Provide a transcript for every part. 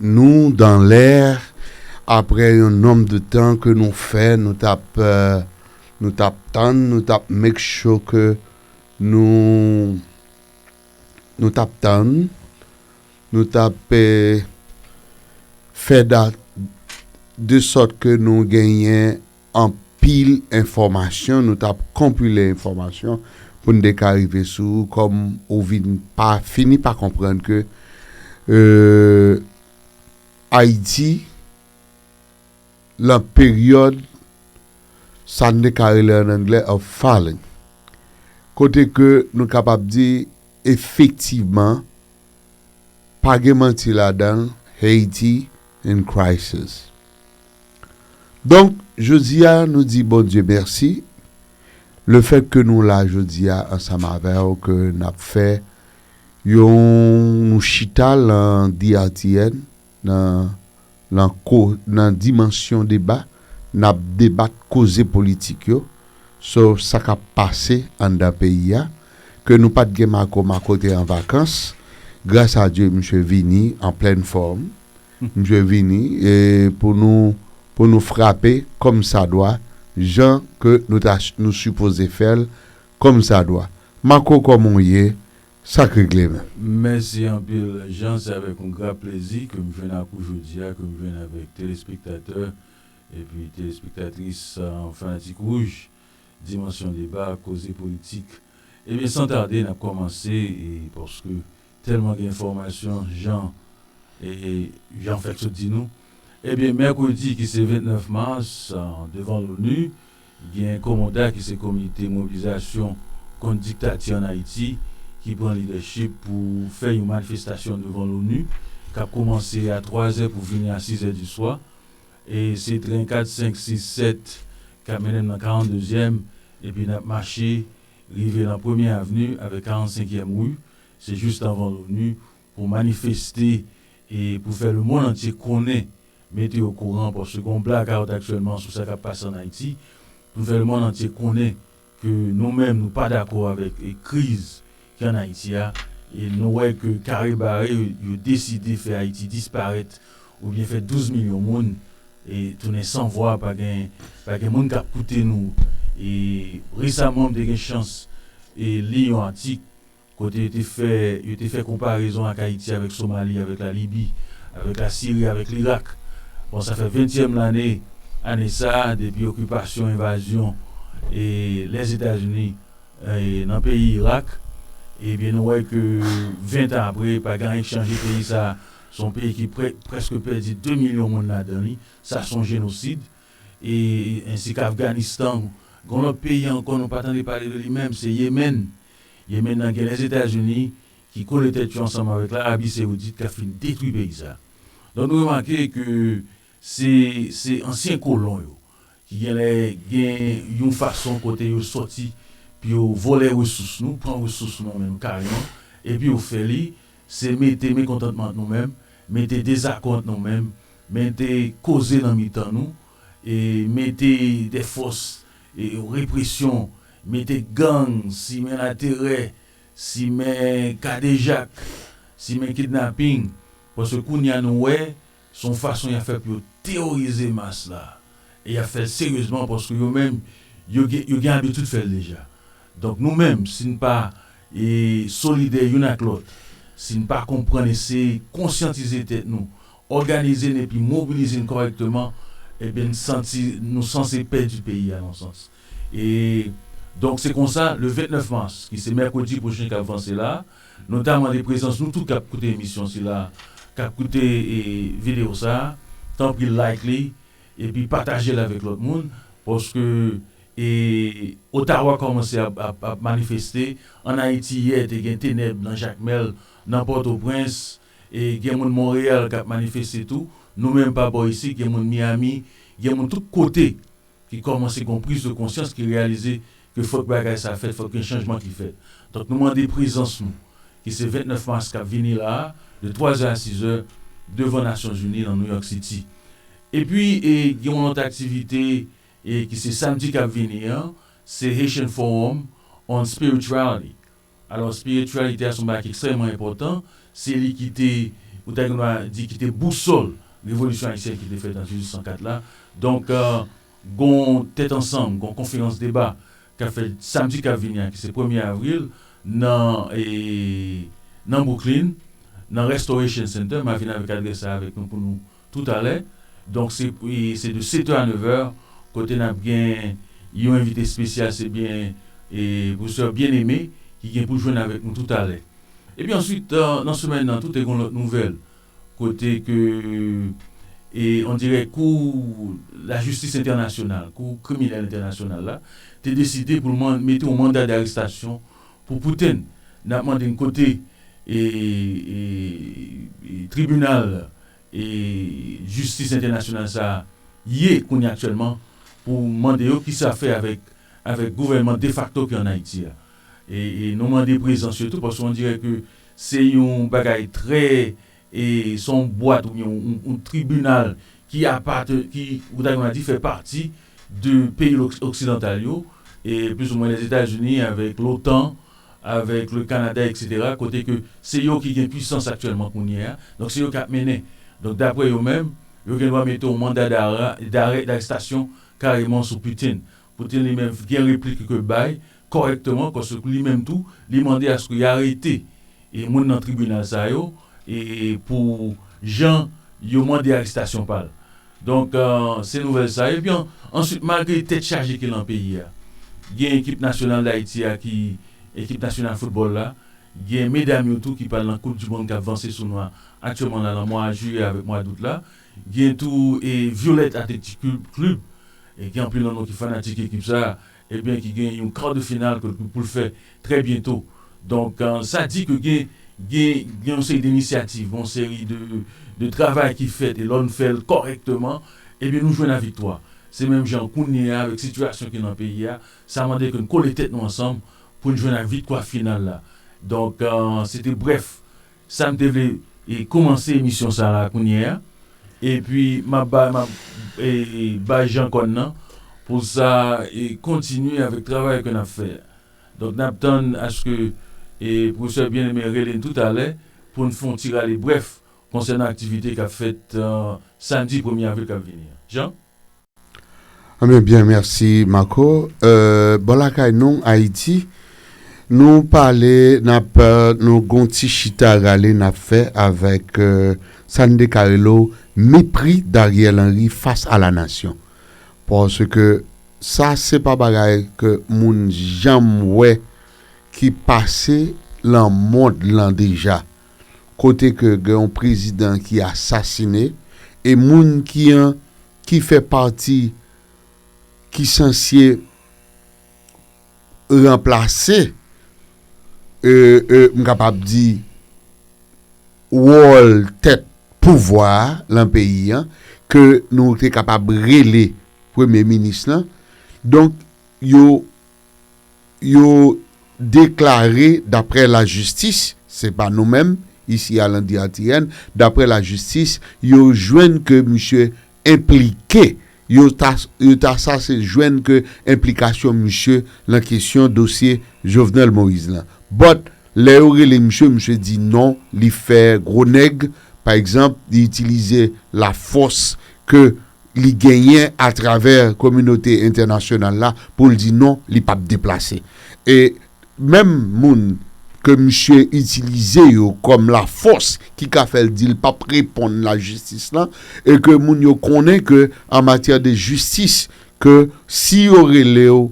nou dan lè aprè yon nonb de tan ke nou fè nou tap nou tap tann nou tap make sure ke nou nou tap tann nou tap fè dat de sòt ke nou genyen anpil enfòmasyon nou tap konpile enfòmasyon poun te ka rive sou ou kòm ou vin pa fini pa konprann ke Ayiti lan peryòd sa n te ka rele an anglè a falling kote ke nou kapab di efektivman pa gen manti ladan Haiti in crisis. Donk, jodi a, nou di Bondye mèsi, lefèt ke nou la jodi a ansanm avè w, ke n ap fè yon, nou chita lan DRTN, nan, lan ko, nan dimansyon deba, n ap debat koze politik yo, so sa k ap pase anndan peyi a, ke nou pa t gen Marco, Marco te an vakans, gras a Dye misye vini an plèn fòm. Msye vini e pou nou pou nou frape kòm sa dwa jan ke nou ta nou sipoze fè l kòm sa dwa. Marco kòman w ye? Sa k regle menm? Mèsi anpil Jean se avèk yon gra plezi ke m jwenn ak ou jodi a ke m jwenn avèk telespektatè epi telespektatris Fanatik Wouj Dimansyon Deba Koze Politik Ebyen san tarde n ap kòmanse paske Tèlman gen enfòmasyon jan Jan fèk sot di nou. Ebyen mèkredi ki se 29 mas devan l'ONU gen Komoda ki se komite mobilizasyon kont diktati an Ayiti ki pran lidèchip pou fè yon manifestasyon devan l'ONU kap koumanse a 3 zè pou fini a 6 zè di swa e se tren 4, 5, 6, 7 kap mennen'm nan 42 zyèm epi nap mache rive nan premye avni avèk 45 yèm ru Se just avan l'ONU pou manifeste e pou fè le mond antye konnen, mete o kouran paske gon blackout aktyèlman sou sa kap pase an Ayiti, pou fè le mond antye konnen ke nou menm nou pa dakò avèk kriz ki an Ayiti a e nou wè ke kare bare yo deside fè Ayiti disparèt oubyen fè 12 milyon moun e tounen san vwa pa gen pa gen moun kap koute nou e resaman m te gen chans e li yon atik kote yo te fè yo te fè konparezon ak Ayiti avèk Somali, avèk la Libi, avèk la Siri, avèk Lirak. Bon sa fè ventyèm lane ane sa depi okipasyon, envazyon e Lèzetazini nan peyi Irak ebyen nou wè ke ventan apre pa gen anyen ki chanje peyi sa se yon peyi ki prèske pèdi 2 milyon moun ladan li sa se yon jenosid e ensi k Afganistan gen yon lòt peyi ankò nou pa tande pale de li menm se Yemen. Yemen nan gen Lèzetazini ki kole tèt yo ansanm avèk la Abi Seoudit kap fin detwi peyi sa. Donk nou remake ke se se ansyen kolon yo ki genlè gen yon fason kote yo sòti pou yo vòlè resous nou, pran resous nou menm kareman epi yo fè li se mete mekontantman ant nou menm, mete dezakò ant nou menm, mete koze nan mitan nou mete de fòs represyon, mete gang, simen laterè, simen kadejak, simen kidnaping, paske kounye a nou wè se yon fason y ap fè pou yo teworize mas la e y ap fè l seryezman paske yo menm yo gen abitid fè l deja. Donk nou menm si n pa solidè youn ak lòt, si n pa konprann eseye konsyantize tèt nou òganize n epi mobilize n kòrèkteman, ebyen n santi nou sanse pèdi peyi a nan yon sans. E donk se konsa, le 29 mas, ki se mèkredi pwochen k ap vanse la, nou ta mande prezans nou tout k ap koute emisyon sila, k ap koute videyo sa, tanpri like li epi pataje l avèk lòt moun, paske e Ottawa kòmanse ap manifeste, ann Ayiti yè te gen tenèb nan Jakmèl, nan Pòtoprens, E gen moun Monreyal kap manifeste tou, nou menm pa bò isit gen moun Miyami, gen moun tout kote ki kòmanse gon priz de konsyans ki reyalize ke fòk bagay sa fèt, fòk gen chanjman ki fèt. Donk nou mande prezans nou ki se 29 mas kap vini la a de 3 zè a 6 zè devan Nasyon Zini nan Nouyòk Siti. E pi e gen yon lòt aktivite e ki se samdi kap vini an, se Haitian Forum on Spirituality. Alò espirityalite a se yon bagay ki ekstrèmman enpòtan, se li ki te, ou ta gen dwa di ki te bousòl revolisyon ayisyen ki te fèt an 1804 la. Donk gon tèt ansanm, gon konferans deba k ap fèt samdi k ap vini a ki se premye avril nan nan Bwouklin, nan Restoration Center. M a vin avèk adrès la avèk nou pou nou tout alè donk se se de 7 heures à 9 heures kote nap gen yon envite espesyal se byen professeur Bien Aimé ki gen pou jwenn avèk nou tout alè epi answit nan semèn nan tou te gon lòt nouvèl kote ke on dirè kou la jistis entènasyonal kou kriminèl entènasyonal la te deside poul mande mete yon manda d'arestasyon Pou Putin, nap mande n kote tribinal jistis entènasyonal sa a ye kounye aktyèlman pou mande yo kisa fè avèk avèk gouvènman defakto ki an Ayiti a. E nou mande prezans yo tou paske on dirè ke se yon bagay trè E se yon bwat oubyen yon tribinal ki apateni, ki ou ta kapab di fè pati de peyi oksidantal yo, plis ou mwen Lèzetazini avèk lotan, avèk le Kanada eksetera, kote ke se yo ki gen pwisans aktyèlman kounye a, donk se yo ki ap mennen. Donk daprè yo menm, yo gen dwa mete yon manda darè, darè darestasyon kareman sou Putin. Putin li menm gen replik li ke bay kòrèkteman paske pou li menm tou li mande aske y arete e moun nan tribinal sa yo e pou jan yo mande arestasyon pa l. Donk se nouvèl sa epi an answit malgre tèt chaje ki lan peyi a gen ekip nasyonal Dayiti a ki ekip nasyonal foutbòl la gen medam yo tou ki pral lan koup di mond k ap vanse sou nou a aktyèman la lan mwa jiyè avèk mwa dout la Gen tou e Violette Athletic Club e gen anpil nan nou ki fanatik ekip sa e byen ki gen yon quart de finale ke pou l fè trè byento. Donk sa di ke gen gen gen yon seri de inisyativ, yon seri de de travay ki fèt e lò n fè l kòrèkteman e byen nou jwenn a viktwa. Se menm jan kounye a avèk sitiyasyon ki nan peyi a, sa mande ke n kole tèt nou ansanm pou n jwenn a vitkwa final la. Donk se te brèf Sam te vle komanse emisyon sa la kounye a epi map bay map bay Jean kòn nan pou sa kontinye avèk travay ke nap fè a donk nap tann aske pwofesè Bien Aimé rele n toutalè poun fon ti rale brèf konsènan aktivite kap fèt samdi premye avril kap vini an Jean. Anben byen merci Marco bon lakay nou Haïti nou pale nap nou gon ti chita rale nap fè avèk sa nou te ka rele w mepri d'Ariel Henry fas a la nasyon paske sa se pa bagay ke moun janm wè ki pase lan mond lan deja kote ke gen yon prezidan ki asasine e moun ki an ki fè pati ki sansye ranplase m kapab di wòl tèt pouvwa a lan peyi an ke nou te kapab rele premye minis lan donk yo yo deklare daprè lajistis, se pa nou menm isi a Landy ATN, daprè lajistis yo jwenn ke misye enplike, yo ta sa se jwenn ke enplikasyon misye lan kesyon dosye Jovenel Moïse lan. But, lè yo rele misye, misye di non, li fè gwo nèg, pa egzanp, li itilize lafòs ke. li genyen atravè kominote entènasyonal la pou l di non li pap deplase. E menm moun ke misye itilize yo kòm la fòs ki ka fè l di l pap reponn la jistis lan e ke moun yo konnen ke an matyè de jistis ke si yo rele w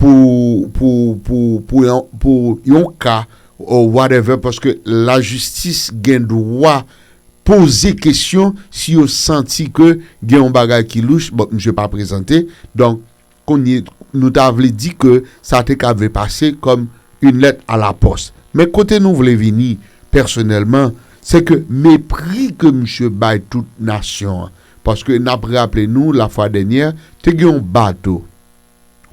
pou pou pou pou yon pou yon ka ou whatever paske la jistis gen dwa poze kesyon si yo santi ke gen yon bagay ki louch, bon misye pa prezante, donk kounye nou ta vle di ke sa te ka vle pase kòm une lettre à la poste. Men kote nou vle vini pèsonèlman, se ke mepri ke misye bay tout nasyon an, paske nap raple nou la fwa dènyè te gen yon bato,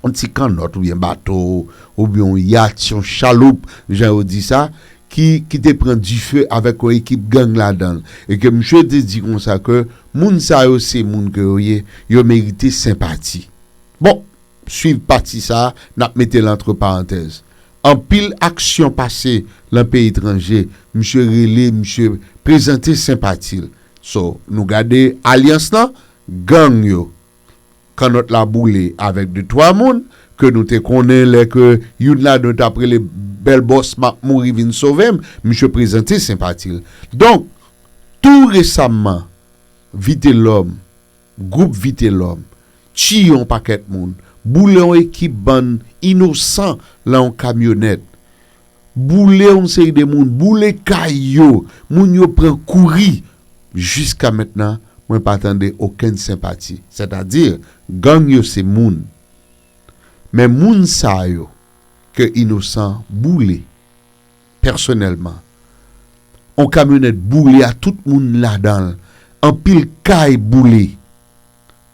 yon ti kannòt oubyen bato, oubyen yon yat, yon chaloup jan yo di sa, ki te pran dife avèk yon ekip gang ladan l, e ke misye te di konsa ke moun sa yo se moun ke yo ye, yo merite senpati. Bon, swiv pati sa a, n ap mete l antre parantèz. Anpil aksyon pase lan peyi etranje, misye rele, misye prezante senpati l. So, nou gade alyans lan, gang yo. Kannòt la boule avèk de twa moun ke nou te konnen lè ke youn ladan yo tap rele Bèl Bòs map mouri vin sove m, misye prezante senpati l. Donk, tou resamman, Vitelòm, gwoup Vitelòm, tiye yon pakèt moun, boule yon ekip bann inosan lan yon kamyonèt. Boule yon seri de moun, boule kay yo, moun yo pran kouri. Jiska mentnan mwen pa tande okenn senpati. Sètadi, gang yo se moun. Men moun sa yo ke Inosan boule pèsonèlman, yon kamyonèt boule a tout moun ladan l, anpil kay boule.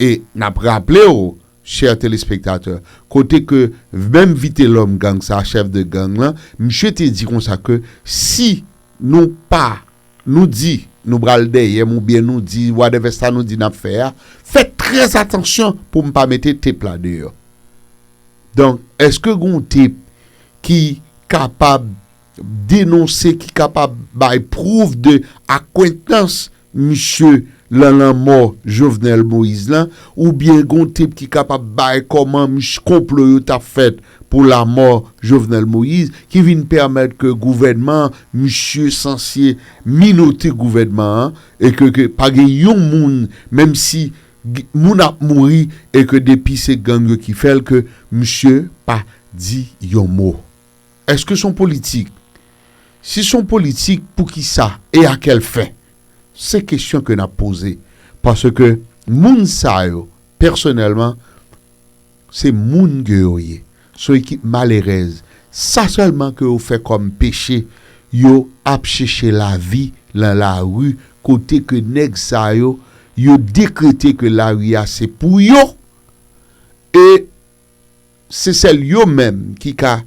E nap raple w chè telespektatè, kote ke menm Vitelòm gang sa, chèf de gang lan, misye te di konsa ke si nou pa, nou di nou pral dèyè m oubyen nou di whatever sa nou di nap fè a, fè trè atansyon pou m pa mete tep la deyò. Donk, eske gen yon tep ki kapab. denonse ki kapab bay prouv de akwentans misye lan lanmò Jovenel Moïse lan oubyen gon tep ki kapab bay kòman mis konplo yo tap fèt pou lamò Jovenel Moïse ki vin pèmèt ke gouvènman misye sansye minote gouvènman an e ke ke pa gen yon moun menm si moun ap mouri e ke depi se gang yo ki fèl ke misye pa di yon mo. Eske son politik? Si son politik pou ki sa e a kèl fen? Se kesyon ke nap poze paske moun sa yo pèsonèlman se moun ke yo ye. Son ekip malerèz. Sa sèlman ke yo fè kòm peche yo ap cheche lavi lan lari kote ke nèg sa yo yo dekrete ke lari a se pou yo e Se sèl yo menm ki ka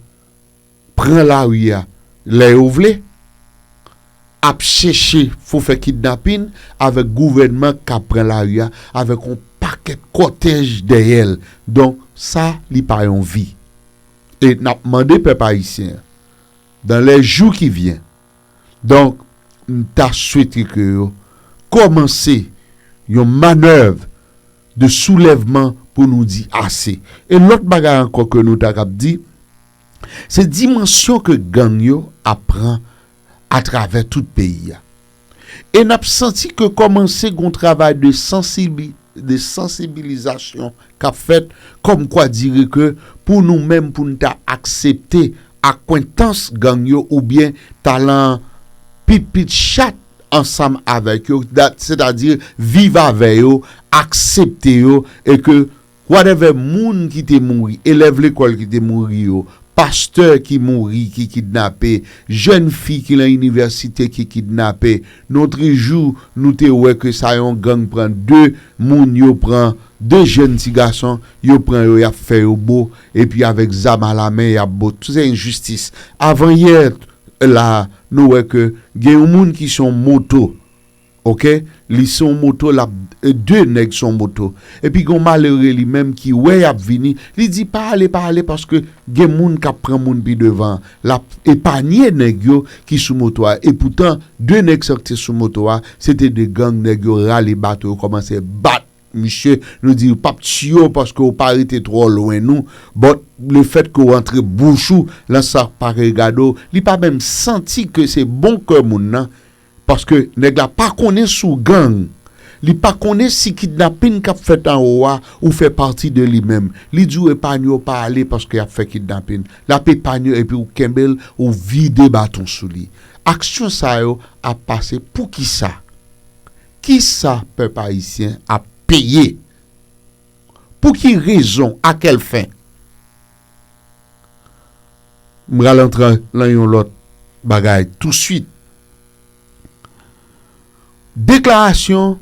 pran lari a lè yo vle, ap chèche fo fè kidnapin avèk gouvènman k ap pran lari a avèk yon pakèt kòtèj dèyè l. Donk, sa li pa yon vi. E n ap mande pèp ayisyen an, dan lè jou ki vyen, Donk, m ta swete ke yo kòmanse yon manèv de soulèvman pou nou di ase. E lòt bagay ankò ke nou ta kab di, se dimansyon ke gang yo ap pran atravè tout peyi a. E n ap santi ke kòmanse gen yon travay de sansibilite. de sansibilizasyon k ap fèt kòm kwa dire ke pou nou menm pou n ta aksepte akwentans gang yo oubyen talan pipit chat ansanm avèk yo sètadi viv avè yo aksepte yo e ke whatever moun ki te mouri elèv lekòl ki te mouri yo pastè ki mouri ki kidnape jèn fi ki lan inivèsite ki kidnape Non tris jou nou te wè ke sa yon gang pran 2 moun yo pran 2 jèn ti gason yo pran yo yap fè yo bo epi avèk zam a la men yap bo tout se enjistis avan yè la nou wè ke gen yon moun ki son moto ok li son moto lap 2 nèg son moto epi gon malere li menm ki wè yap vini li di pa ale pa ale paske gen moun kap pran moun pi devan Lap epanye nèg yo ki sou moto a epoutan 2 nèg sa yo ki te sou moto a se te 2 gang nèg yo rale bato yo kòmanse bat misye nou di yo pap tiye w paske w pa rete twò lwen nou but le fèt ke w antre bouch ou lan sa pa regade w li pa menm santi ke se bon kè moun nan Paske nèg la pa konnen sou gang, li pa konnen si kidnapin kap fèt anwo a ou fè pati de li menm. Li diw epanye w pa ale paske yap fè kidnapin. Lap epanye epi ou kenbel ou vide baton sou li. Aksyon sa yo ap pase poukisa? Kisa pèp ayisyen ap peye? Pouki rezon? A kèl fen? M pral antre lan yon lòt bagay touswit. Deklarasyon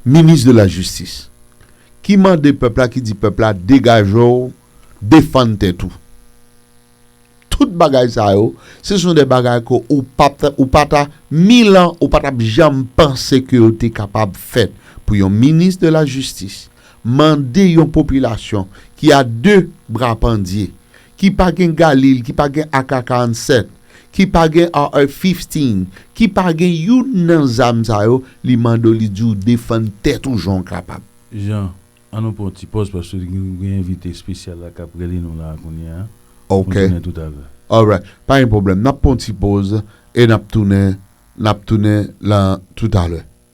minis de la jistis ki mande pèp la, ki di pèp la degaje w, defann tèt ou. Tout bagay sa yo, se son de bagay ke ou pat, ou pa ta, mil an ou pa tap janm panse ke yo te kapab fèt pou yon minis de la jistis Mande yon popilasyon ki a 2 bra pandye, ki pa gen Galil, ki pa gen ak 47, ki pa gen AR-15, ki pa gen youn nan zam sa yo, li mande w, li di w defann tèt ou jan w kapab. Jean, an nou pran yon ti pòz paske nou gen envite espesyal la k ap rele nou la a kounye a. Nou tounen toutalè. Alright. Pa gen pwoblèm. N ap pran yon ti pòz e n ap tounen, n ap tounen lan toutalè.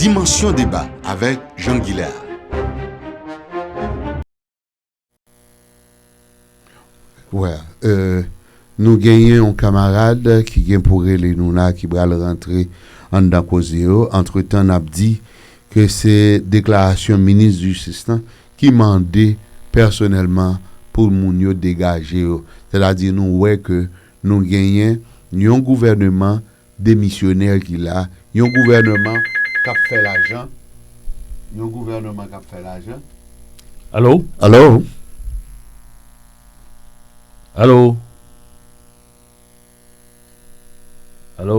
Dimansyon deba avèk Jean Guilain. Wè nou genyen yon kamarad ki gen pou rele nou la ki pral rantre anndan koze yo antretan nap di ke se deklarasyon minis jistis lan ki mande pèsonèlman pou moun yo degaje yo, sètadi nou wè ke nou genyen yon gouvèneman demisyonè ki la, yon gouvèneman k ap fè lajan, yon gouvèneman k ap fè lajan. Alo? Alo? Alo? Alo?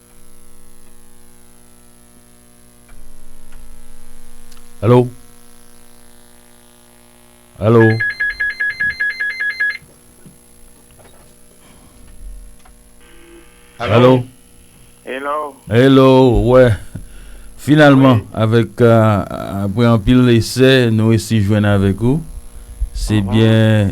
Allo Allo Allo Hello Wè Finalman avèk Apre anpil esè nou resi jwenn avèk ou Se byen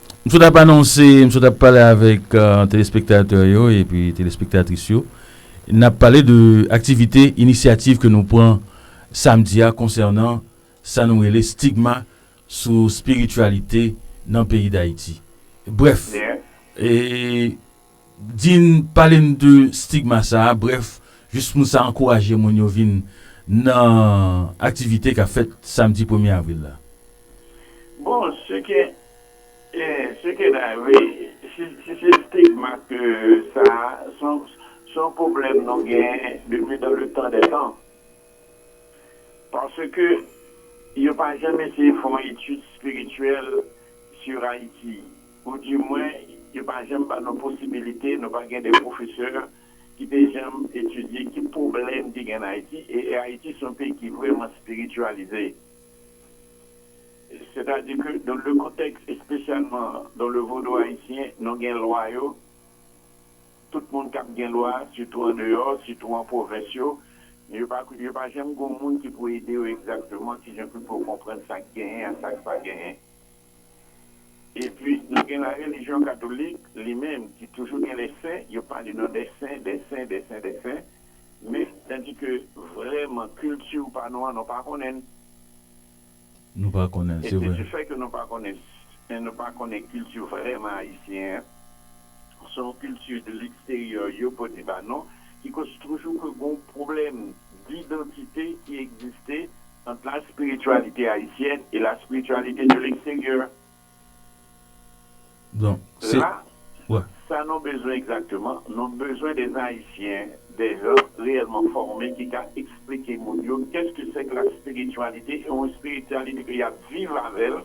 M sot ap anonse, m sot ap pale avèk telespektatè yo epi telespektatris yo. N ap pale de aktivite, inisyativ ke nou pran samdi a konsènan sa nou rele stigma sou spirityalite nan peyi Dayiti. Brèf, e Di n, pale n de stigma sa a, brèf, jis pou sa ankouraje moun yo vin nan aktivite k ap fèt samdi premye avril la. Bon, se ke, se ke la wi, si se stigma ke sa a, se yon pwoblèm nou gen depi dan le tan dè tan. Paske yo pa janm eseye fè yon etid espirityèl sur Ayiti. Ou di mwen yo pa janm ban nou posibilite, nou pa gen de pwofesè ki te janm etidye ki pwoblèm ki gen an Ayiti e Ayiti se yon peyi ki vrèman spirityalize. Sètadi ke dan le kontèks espesyalman dan le vodou ayisyen nou gen lwa yo, tout moun kab gen lwa sitou an deyò, sitou an pwovens yo, men yo pa yo pa janm gen yon moun ki pou ede yo egzakteman kijan pou yo konprann sa k genyen ak sa k pa genyen. Epi nou gen la relijyon katolik li menm ki toujou gen les saints, yo pale nan des saints, des saints, des saints, des saints, men tandi ke vrèman kilti ou pa nou an nou pa konnen l. Nou pa konnen l, se vre. E se di fèt ke nou pa konnen, nou pa konnen kilti vrèman ayisyen an, se yon kilti de leksteryè yo pote ba nou ki koz toujou ke gen yon pwoblèm didantite ki egziste ant la spirityalite ayisyèn e la spirityalite de leksteryè. La, sa nou bezwen egzakteman, nou bezwen de Ayisyen, de jan reyèlman fòme ki ka eksplike moun yo kèske sèke la spirityalite e yon spirityalite ke y ap viv avè l,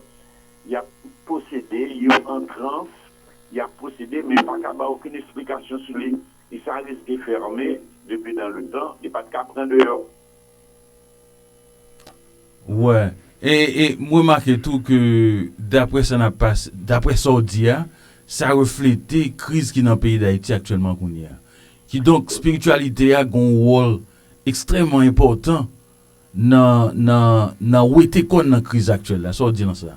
y ap posede, yo an trans, y ap posede men pa ka bay okenn esplikasyon sou li. E sa reske fèrme depi dan letan, li pa t ka pran deyò. Wè e e m remake tou ke daprè sa nap pas daprè sa w di a sa reflete kriz ki nan peyi Dayiti aktyèlman kounye a. Kidonk espirityalite a gen yon wòl ekstrèman enpòtan nan nan nan wete kòn nan kriz aktyèl la. Sa w di nan sa?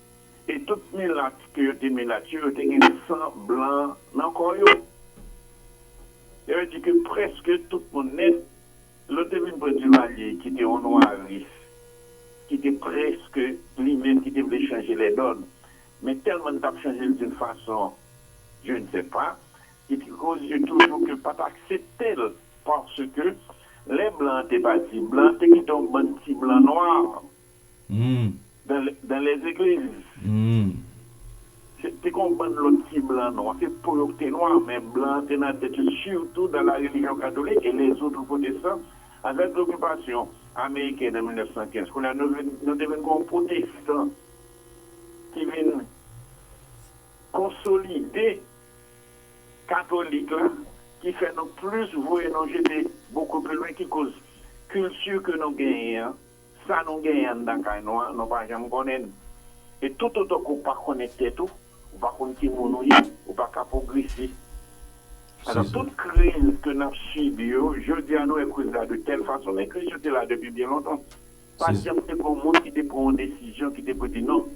E tout milat ke yo te milat yo, yo te gen san blan nan kò yo. Sa vle di ke prèske tout moun nèt, lè w te vin pran Duvalier ki te yon nwaris, ki te prèske li menm ki te vle chanje lè dòn, men tèlman li t ap chanje l doun fason, je ne sais pas, ki te koz yo toujou ke pa t aksepte l, paske lè blan an te pati, blan an te kite yon bann ti blan nwa. Humm. Dans les églises. Humm. Se te gon bann lòt ki blan nwa. Se po yo ki te nwa, men blan an te nan tèt yo, sitou dans la religion catholique et les autres protestants. Avèk lokipasyon amerikèn an 1915, kounye a nou vin, nou te vin gen yon pwotestan ki vin konsolide katolik la, ki fè nou plis voye nou jete beaucoup plus loin, ki koz kilti ke nou genyen an, Sa nou genyen anndan kay nou an, nou pa janm konnen l. E toutotan ke w pa konnen tèt ou, ou pa konn ki moun ou ye, ou pa ka pwogrese. Alò, tout kriz ke n ap sibi yo, jodi a nou wè kriz la de tèl fason, men kriz yo te la depi byen lontan. Pa t janm te gen yon moun ki te pran yon desizyon, ki te pou di, non,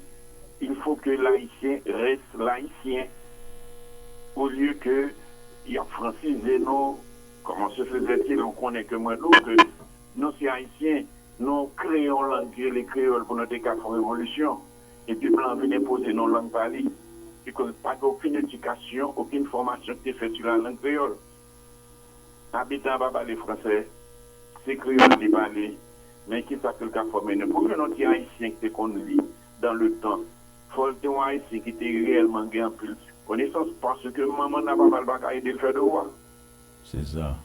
il faut que l'Haïtien reste l'Haïtien, olye ke y ap fransize nou, kòman se fè zè se lè w konnen ke mwen di w ke Nou se Ayisyen, nou kreye yon lang ki rele kreyòl pou nou te ka fè yon revolisyon, epi blan an vin enpoze nou lang pa li. Se koz pa gen okenn edikasyon, okenn fòmasyon ki te fèt sou lalang kreyòl. Abitan an pa pale fransè, se kreyòl li pale, men ki sa ke l ka fòme nou? Pou w jwenn yon ti Ayisyen ki te konn li dan le tan, fò l te yon Ayisyen ki te reyèlman gen anpil konesans, paske manman n nan papa l pa ka ede l fè devwa. Se sa.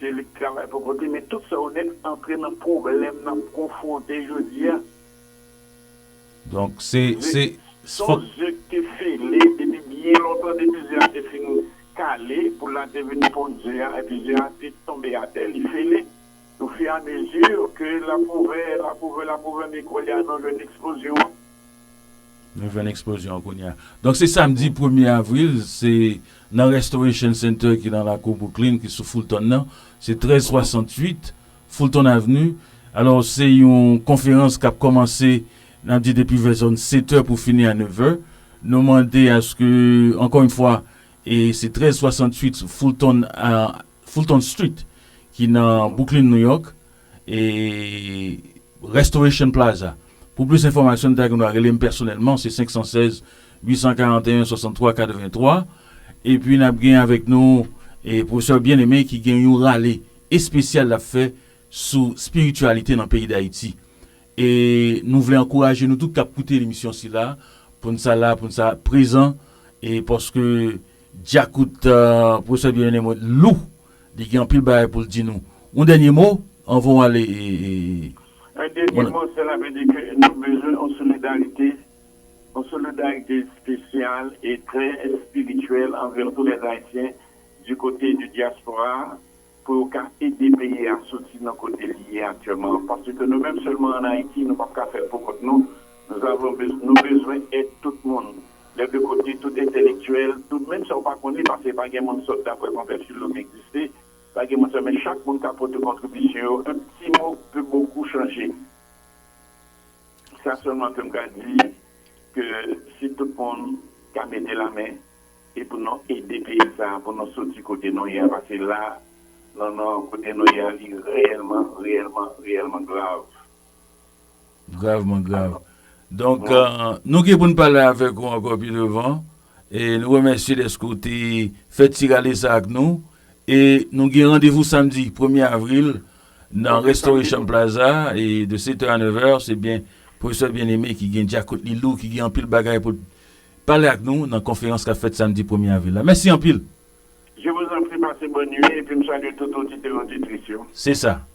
Se li k travay pou kont li men tout sa yo nèt antre nan pwoblèm n ap konfwonte jodi a. Donk se, se, se fòk. Son ze k te fele depi byen lontan depi ze a te fin kale, poul la te vin ponn ze a epi ze a te tonbe atè li fele o fi a mezi ke l ap ouvè, l ap ouvè, l ap ouvè men koulye a nou jwenn eksplozyon an. Nou jwenn eksplozyon an kounye a. Donk se samdi premye avril, se nan Restoration Center ki nan lakou Brooklyn ki sou Fulton nan, se 1368 Fulton Avenue. Alò se yon konferans k ap kòmanse n ap di depi vè zòn setè pou fini a nevè. Nou mande aske, ankò yon fwa, e se 1368 Fulton Street ki nan Brooklyn, New York. e Restoration Plaza pou plis enfòmasyon nou ta gen dwa rele m pèsonèlman se 516 841 63 83 epi n ap gen avèk nou e Professeur Bien Aimé ki gen yon rale espesyal l ap fè sou spirityalite nan peyi Dayiti e nou vle ankouraje nou tout k ap koute emisyon sila pou n sa la pou n sa prezan e paske dyakout Professeur Bien Aimé lou. Li gen anpil bagay pou l di nou. Yon dènye mo anvan w ale e. Yon dènye mo se la vle di ke nou bezwen yon solidarite, yon solidarite espesyal e trè espirityèl anvè tou lè Ayisyen di kote di dyaspora a pou yo ka ede peyi a soti nan kote li ye aktyèman an. Pase ke nou menm sèlman an Ayiti nou pap ka fè l pou kont nou. Nou avon, nou bezwen èd tout moun. Lè de kote tout entelektyèl, tout menm sa ou pa konnen pase pa gen moun sòt dapre konvè filo ki egziste, pa gen moun sa men chak moun ka pote kontribisyon yo un pti mot peut beaucoup changer. Sa sèlman ke m ka di ke si tout moun ka mete la men e pou nou ede peyi sa a pou nou soti kote nou ye a pase la nan nan kote nou ye a li reyèlman reyèlman reyèlman grav. Gravman grav. Donk, nou gen pou n pale avèk ou ankò pi devan. E nou remèsye dèske ou te fè ti rale sa a ak nou. E nou gen randevou samdi premye avril nan Restoration Plaza e de setè a nevè. Se byen Pwofesè Bien-Aimé ki gen dyakout li lou, ki gen anpil bagay pou l pale ak nou nan konferans k ap fèt samdi premye avril la. Mèsi anpil. Je vous en prie, pase bòn nui epi m salye tout oditè oditris yo. Se sa.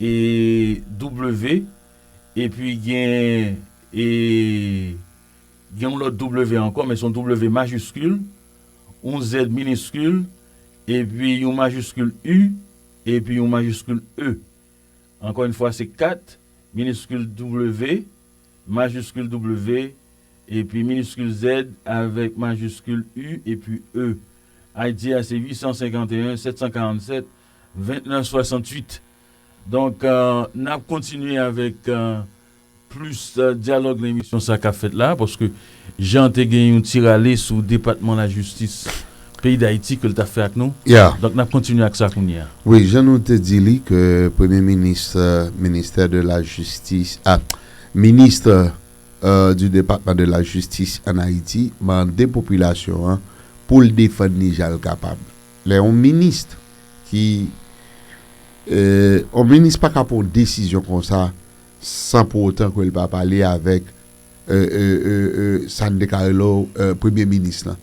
e W epi gen e gen yon lòt W ankò men se yon W majiskil, yon Z miniskil epi yon majiskil U epi yon majiskil E. Ankò yon fwa se 4 miniskil W, majiskil W epi miniskil Z avèk majiskil U epi E. Ayiti a se 851 747 20 nan 68. Donk n ap kontinye avèk plis dyalòg nan emisyon sa k ap fèt la a paske Jean te gen yon ti rale sou depatman lajistis peyi Dayiti ke l t ap fè ak nou. Donk n ap kontinye ak sa kounye a. Wi, jan nou te di li ke premye minis ministè de la jistis a ministre du departement de la justice en Haïti mande popilasyon an pou l defann li jan l kapab. Lè yon minist ki Yon minist pa ka pran yon desizyon konsa san pou otan ke l pa pale avèk sa n te ka rele w premye minis lan.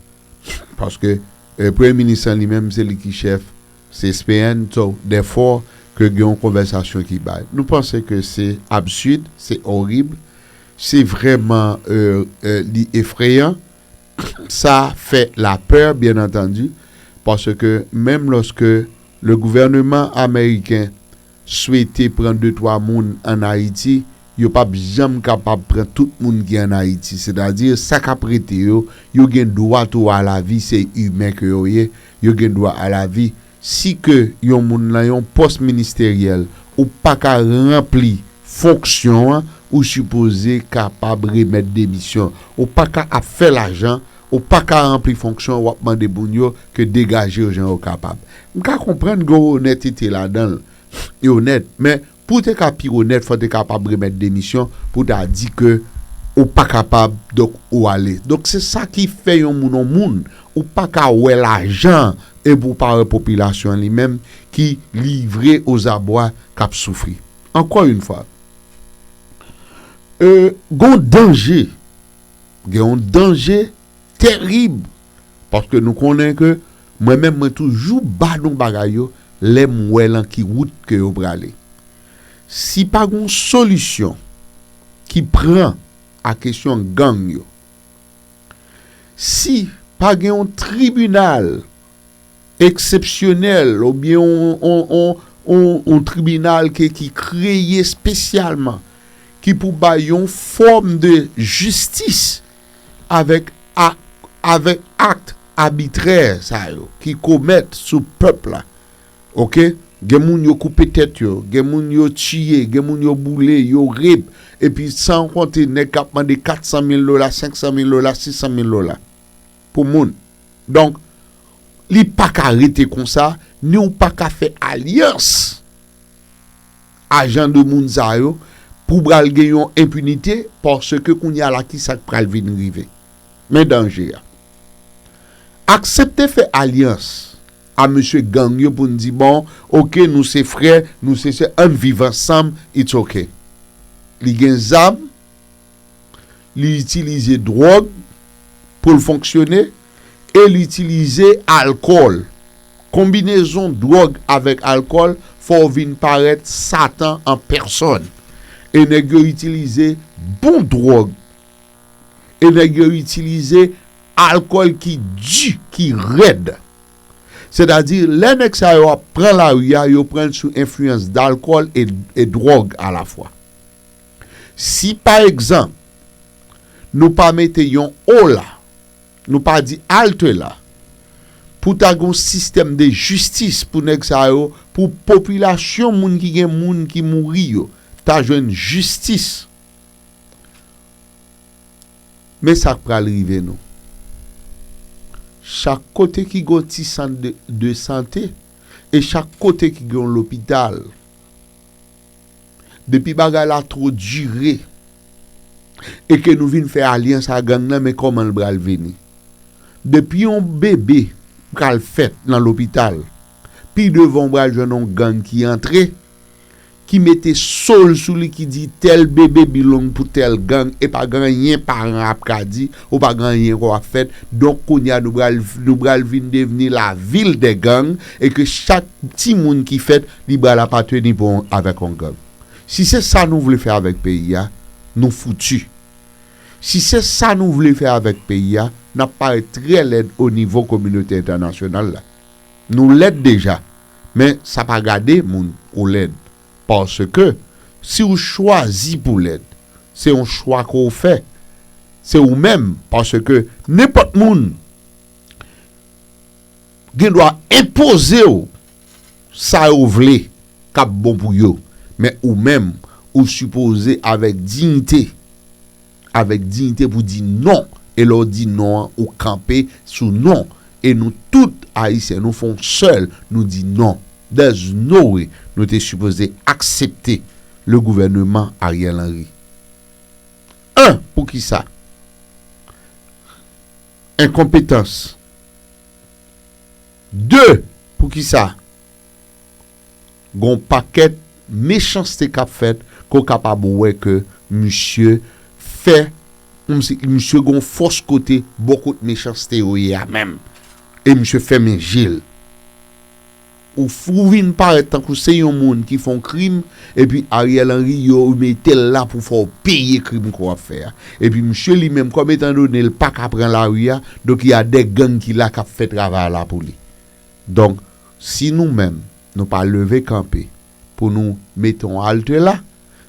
Paske premye minis lan li menm se li ki chèf CSPN so dè fò ke gen yon konvèsasyon ki bay. Nou panse ke se absid, se orib, se vrèman li efreyan. Sa fè lapeur bien entendu parce que menm lorsque le gouvernement americain swete pran de twa moun an Haiti yo pap janm kapab pran tout moun ki an Haiti c'est à dire sa kap rete yo yo gen dwa tou a la vie se humain ke yo ye yo gen dwa a la vie Si ke yon moun lan yon pòs ministeryèl ou pa ka ranpli fonksyon an ou sipoze kapab remèt demisyon. Ou pa ka ap fè lajan, ou pa ka ranpli fonksyon an wap mande moun yo ke degaje yo jan yo kapab. M ka konprann gen yon onètete ladan l, yo onèt men Pou w te ka pi onèt fò w te kapab remèt demisyon pou w ta di ke ou pa kapab donk ou ale. Donk se sa ki fè yon moun yon moun. Ou pa ka wè lajan epi w pa wè popilasyon an li menm ki livre ozabwa k ap soufri. Ankò yon fwa, gen yon danje, gen yon danje. terib paske nou konnen ke mwen menm mwen toujou ba nou bagay yo lèm wè lan ki wout ke yo prale si pa gon solisyon ki pran a kesyon gang yo si pa gen yon tribinal eksepsyonèl ou byen yon tribinal ke ki kreye spesyalman ki pou bay yon fòm de jistis avèk avèk akt abitrè sa yo ki komèt sou pèp la ok gen moun yo koupe tèt yo gen moun yo tiye gen moun yo boule yo rip epi san konte nèg kap mande 400 mil dola 500 mil dola 600 mil dola pou moun donk li paka rete konsa ni ou paka fè alyans. a jan de moun sa yo pou pral gen yon enpinite paske kounya la ki sa k pral vin rive? Men danje a. Aksepte fè alyans a mesye gang yo pou n di bon ok nou se frè nou se sè an n viv ansanm it's ok li gen zam li itilize dwòg pou l fonksyone e li itilize alkòl. Konbinezon dwòg avèk alkòl fè w vin parèt satan an pèsòn. E nèg yo itilize bon dwòg e nèg yo itilize alkòl ki di, ki rèd. Sètadi lè nèg sa yo ap pran lari a, yo pran l sou enfliyans dalkòl e dwòg alafwa. Si pa egzanp, nou pa mete yon O la, nou pa di halte la, pou ta gen yon sistèm de jistis pou nèg sa yo, pou popilasyon moun ki gen moun ki mouri yo ta jwenn jistis. Men sa k pral rive nou. Chak kote ki gen yon ti sant de sante e chak kote ki gen yon lopital. Depi bagay la two dire e ke nou vin fè alyans a gang nan men koman l bral vini. Depi yon bebe pral fèt nan lopital pi devan w bral jwenn yon gang ki antre ki mete so l sou li ki di tel bebe belong pou tel gang e pa gen anyen paran an ap ka di ou pa gen anyen ke w ap fèt donk kounye a nou bral vin devni la vil dè gang e ke chak timoun ki fèt Li bral apateni bon avèk yon gang. Si se sa nou vle fè avèk peyi a, nou foutu. Si se sa nou vle fè avèk peyi a, n ap parèt trè lèd o nivo kominote entènasyonal la. Nou lèd deja, men sa pa gade moun ou lèd. Paske, si w chwazi pou lèd, se yon chwa ke w fè. Se ou menm, paske nenpòt moun gen dwa enpoze w. sa yo vle kap bon pou yo men ou menm ou sipoze avèk dignite avèk dignite pou di non e lè w di non an ou kanpe sou non e nou tout ayisyen nou fon sèl nou di non there's no way nou te sipoze aksepte le gouvernement Ariel Henry 1 poukisa enkonpetans. 2, Poukisa gon pakèt mechanste k ap fèt ke w kapab wè ke misye fè kòmsi misye gon fòs kote bò kot mechanste yo ye a menm e misye fèmen je l? Ou vin parèt tankou se yon moun ki fè yon krim Epi Ariel Henry yo metel la pou fè w peye krim ke w ap fè a. Epi misye li menm kòm etan done l paka pran lari a, donk ya dè gang ki la kap fè travay la pou li. Donk si nou menm nou pa leve kanpe pou nou mete yon halte la,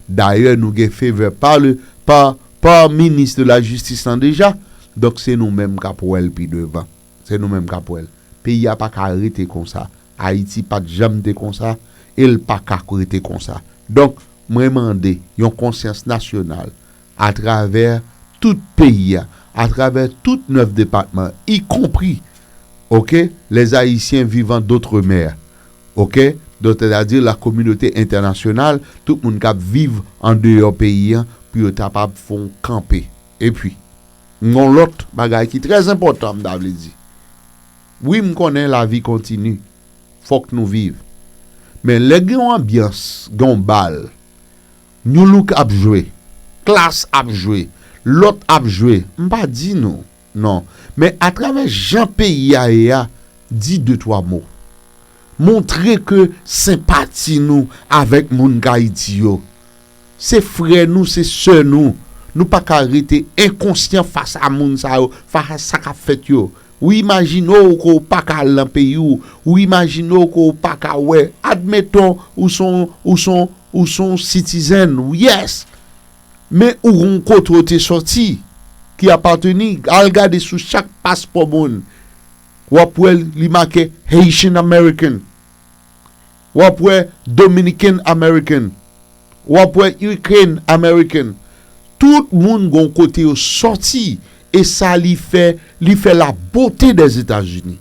dayè nou gen fevè pa le pa pa minis de la jistis lan deja, donk se nou menm kap wè l pi devan. Se nou menm kap wè l. Peyi a paka rete konsa. Ayiti pat janm te konsa e l pa ka rete konsa. Donk, mwen mande yon konsyans nasyonal atravè tout peyi a, atravè tout 9 depatman, ikonpri, ok, les Haïtiens vivant d'outre-mer, ok, donk sètadi la kominote entènasyonal, tout moun k ap viv andeyò peyi a pou yo tapab fè yon kanpe. Epi, m gen yon lòt bagay ki trè enpòtan m ta vle di. Wi m konnen lavi kontini, fòk nou viv. Men lè gen yon anbyans, gen yon bal, Nu Look ap jwe, Klass ap jwe, lòt ap jwe, m pa di nou non, men atravè jan peyi a ye a, di de twa mo. Montre ke senpati nou avèk moun Kayiti yo. Se frè nou, se sè nou. Nou pa ka rete enkonsyan fas a moun sa yo, fas a sa k ap fèt yo. Ou imajine w ke w pa ka al nan peyi w, ou imajine w ke w pa ka wè, admeton ou se yon, ou se yon, ou se yon sitizèn, yes! Men ou gon kote w te sòti, ki apateni, al gade sou chak paspò moun, w ap wè li make Haitian American. Wap wè Dominican American, wap wè Ukraine American, tout moun gon kote yo sòti e sa li fè, li fè la bote dè Etazini.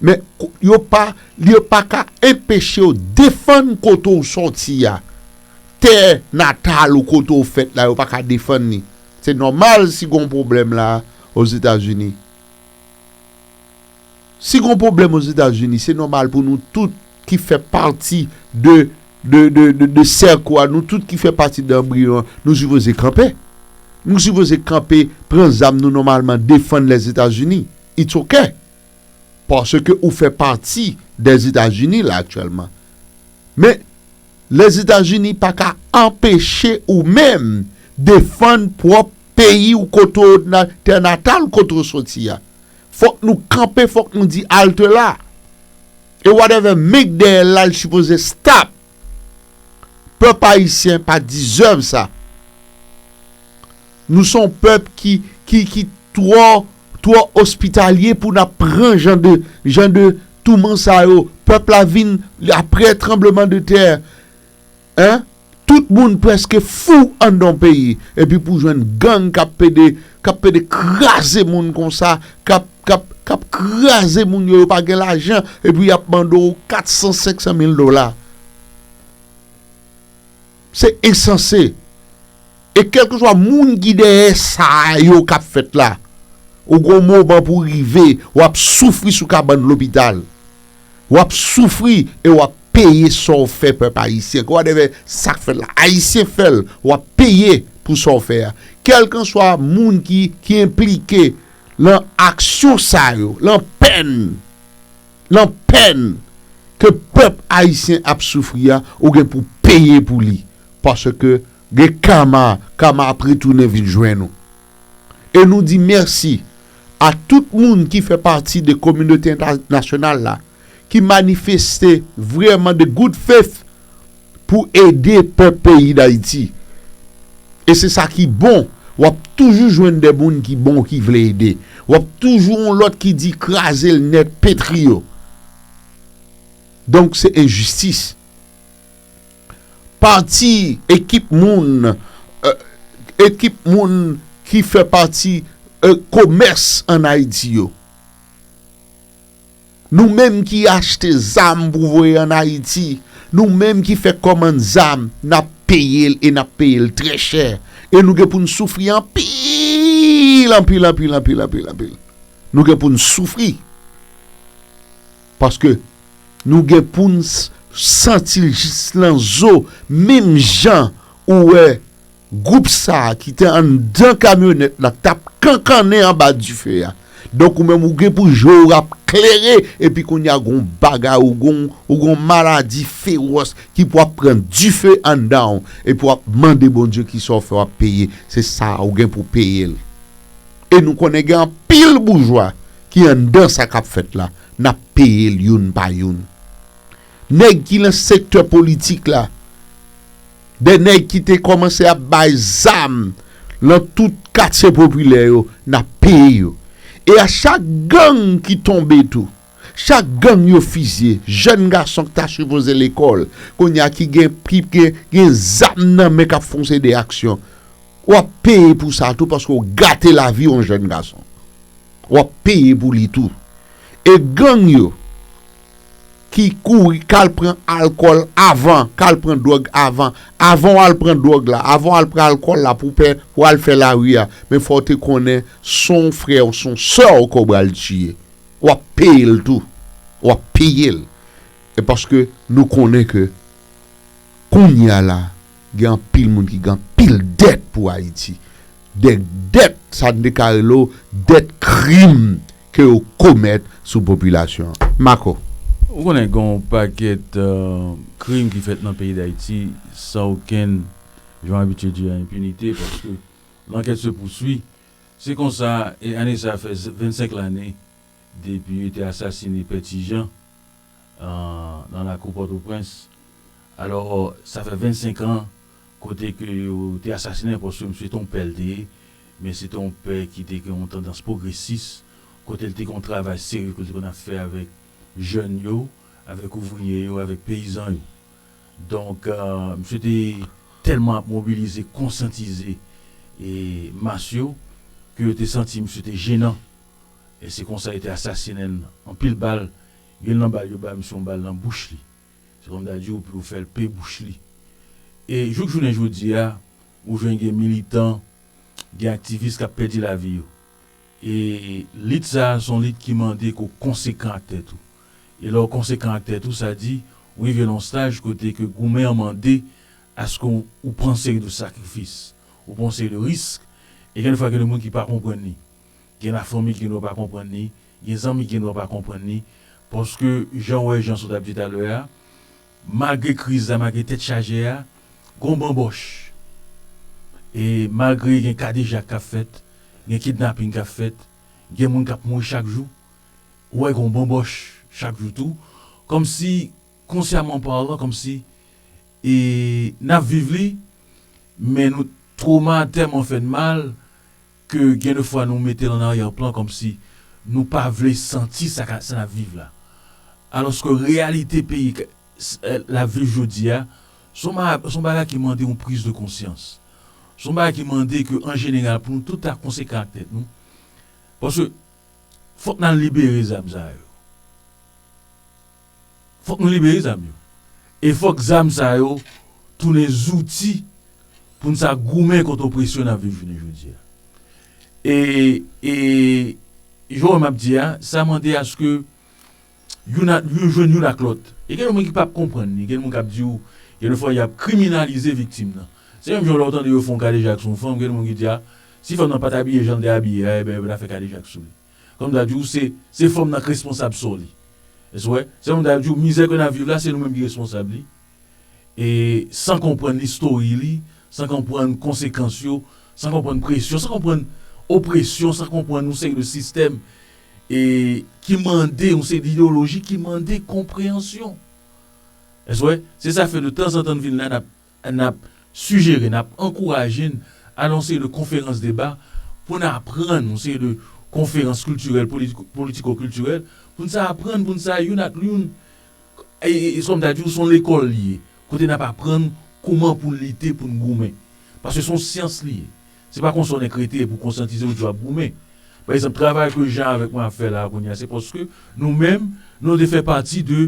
Men yo pa, yo pa ka enpechew defann kote ou sòti a, tè natal ou kote ou fèt la yo pa ka defann li. Se nòmal si gon pwoblèm la Ozetazini. Si gon pwoblèm Ozetazini, se nòmal pou nou tout ki fè pati de de sèk ou a, nou tout ki fè pati de anbriyon an, nou sipoze kanpe. Nou sipoze kanpe, pran zam nou nòmalman, defann Lèzetazini. It's ok. Paske ou fè pati de Zetazini la aktyèlman. Men, Lèzetazini pa ka anpeche ou menm defann pwòp peyi ou kote ou tè natal kote ou soti a. Fok nou kanpe fok nou di alte la e whatever make dèyè la li sipoze stop pèp ayisyen pa deserve sa nou son pèp ki ki ki twò twò ospitalye pou nap pran jan de jan de touman sa yo pèp la vin aprè tranbleman de tè. Hein tout moun preske fou andan peyi epi pou jwenn gang kap pede kap pede kraze moun konsa kap kap kap kraze moun yo yo pa gen lajan epi yap mande w 400 500 mil dola se ensanse e kelkeswa moun ki dèyè sa yo kap fèt la ou gon moman pou rive wap soufri sou kabann lopital. Wap soufri e wap peye sa w fè pèp ayisyen. Kè w atè fè sa k fèt la. Ayisyen fè l. Wap peye pou sa w fè a. Kèlkanswa moun ki ki enplike lan aksyon sa yo, lan pèn, lan pèn ke pèp ayisyen ap soufri a, ou gen pou peye pou li. Paske gen kama, kama ap retounen vin jwenn ou. e nou di mèsi a tout moun ki fè pati de kominote entènasyonal la ki manifeste vrèman de good faith pou ede pèp peyi Dayiti. E se sa ki bon, w ap toujou jwenn de moun ki bon ki vle ede. W ap toujou yon lòt ki di kraze l nèt, petri yo. Donk se enjistis. Pati ekip moun Ekip moun ki fè pati komès ann Ayiti yo Nou menm ki achte zam pou voye ann Ayiti Nou menm ki fè kòmann zam n ap peye l e n ap peye l trè chè e nou gen pou n soufri anpil anpil anpil anpil anpil Nou gen pou n soufri Paske nou gen pou n santi l jis lan zo menm jan ou wè gwoup sa a ki te anndan kamyonèt la k t ap kankannen anba dife a. Donk ou menm ou gen pou je w ap klere epi kounye a gen yon bagay ou gen yon maladi fewòs ki pou ap pran dife anndan w epi w ap mande Bondye ki sa w fè w ap peye se sa a ou gen pou w peye l. E nou konnen gen anpil boujwa ki anndan sa kap fèt la nap peyel youn pa youn nèg ki nan sektè politik la dè nèg ki te kòmanse ap bay zam lan tout katye popilè yo nap peye yo e a chak gang ki tonbe tou chak gang yo fizye jèn gason ki ta sipoze lekòl kounya ki gen gen zam nan men kap fonse de aksyon. Wap peye pou sa tou paske w gate lavi yon jèn gason wap peye pou li tou e gang yo ki kouri kal pran alkòl avan kal pran dwòg avan avan w al pran dwòg la avan w al pran alkòl la pou pè pou al fè lari a men fò w te konnen son frè w son sè w ke w bal tiye wap peye l tou wap peye l e paske nou konnen ke kounya la. Gen anpil moun ki gen anpil dèt pou Ayiti. Dèk dèt sa n deklare lo dèt krim ke yo komèt sou popilasyon an. Mako. Ou konnen gen yon pakèt krim ki fèt nan peyi Dayiti san okenn, jan w abitye di a, enpinite paske lankèt se pousui. Se konsa, ane sa fè 25 lane depi yo te asasine Pè Ti Jan. nan lakou Pòtoprens. Alò, sa fè 25 an kote ke yo te asasinen l paske misye se te yon pè l te ye, men se te yon pè ki te gen yon tandans pwogresis, kote l te gen yon travay serye ke l te konn ap fè avèk jèn yo, avèk ouvriye yo, avèk peyizan yo. Donk, misye te tèlman ap mobilize, konsyantize mas yo ke yo te santi misye te jenan e se konsa yo te asasinen l anpil bal. Gen nan bal yo bay misye yon bal nan bouch li, se kòm ta di w pou yo fè l pe bouch li. E jouk jounen jodi a, ou jwenn gen militan, gen aktivis k ap pèdi lavi yo. E lit sa a se yon lit ki mande ke w konsekan ak tèt ou. E lè w konsekan ak tèt ou, sa di ou rive nan yon staj kote ke goumen an mande aske ou pran yon seri de sakrifis, ou pran yon seri de risk. E gen defwa gen de moun ki pa konprann li. Gen lafanmi ki gendwa pa konprann li. Gen zanmi gen dwa pa konprann li paske jan w wè jan sa w t ap di talè a, malgre kriz la, malgre tèt chaje a, gon banbòch. E malgre gen kadejak k ap fèt, gen kidnaping k ap fèt, gen moun k ap mouri chak jou, ou wè gon banbòch chak jou tou. Kòmsi, konsyaman palan, kòmsi e n ap viv li men nou twoma tèlman fè n mal Ke gen de fwa nou mete l an aryè plan kòmsi nou pa vle santi sa ka sa n ap viv la. Alòske reyalite peyi k l ap viv jodi a s on ba s on bagay ki mande yon priz de konsyans. S on bagay ki mande ke an jeneral pou nou tout ta konsekan ak tèt nou. Paske fòk n al libere zam sa yo. Fòk nou libere zam yo. E fòk zam sa yo tounen zouti pou n sa goumen kont opresyon n ap viv jounen jodi a. E, e, jan w wè m ap di a, sa mande aske youn ak, youn jwenn youn ak lòt. E gen yon moun ki p ap konprann ni, gen moun k ap di ou, gen dèfwa y ap kriminalize viktim nan. Se menm jan lè w tande yo fè yon kadejak sou yon fanm, gen moun ki di a, si fanm nan pa t abiye jan l te abiye a, enben yo pa ta fè kadejak sou li. Kòm m ta di w, se, se fanm nan k responsab sò li. Èske w wè? Se kòm m ta di w, mizè ke n ap viv la, se nou menm ki responsab li. E, san konprann listory li, san konprann konsekans yo, san konprann presyon, san konprann opresyon, san konprann yon seri de sistèm, e, ki mande yon seri d'ideoloji ki mande konpreyansyon. Èske w wè? Se sa fè de tanzantan n vin la n ap. N ap sijere, n ap ankouraje n al yon seri de konferans deba pou n aprann, yon seri de konferans kiltirèl, politiko kiltirèl, pou n sa aprann, pou n sa youn ak youn, e kòm ta di w s on lekòl li ye, kote n ap aprann kouman pou n lite, pou n goumen. Paske s on syans li ye. Se pa konsa w nèk rete pou w konsyantize w di w ap goumen. Pa egzanp, travay ke Jan avèk mwen ap fè la a kounye a se paske nou menm nou te fè pati de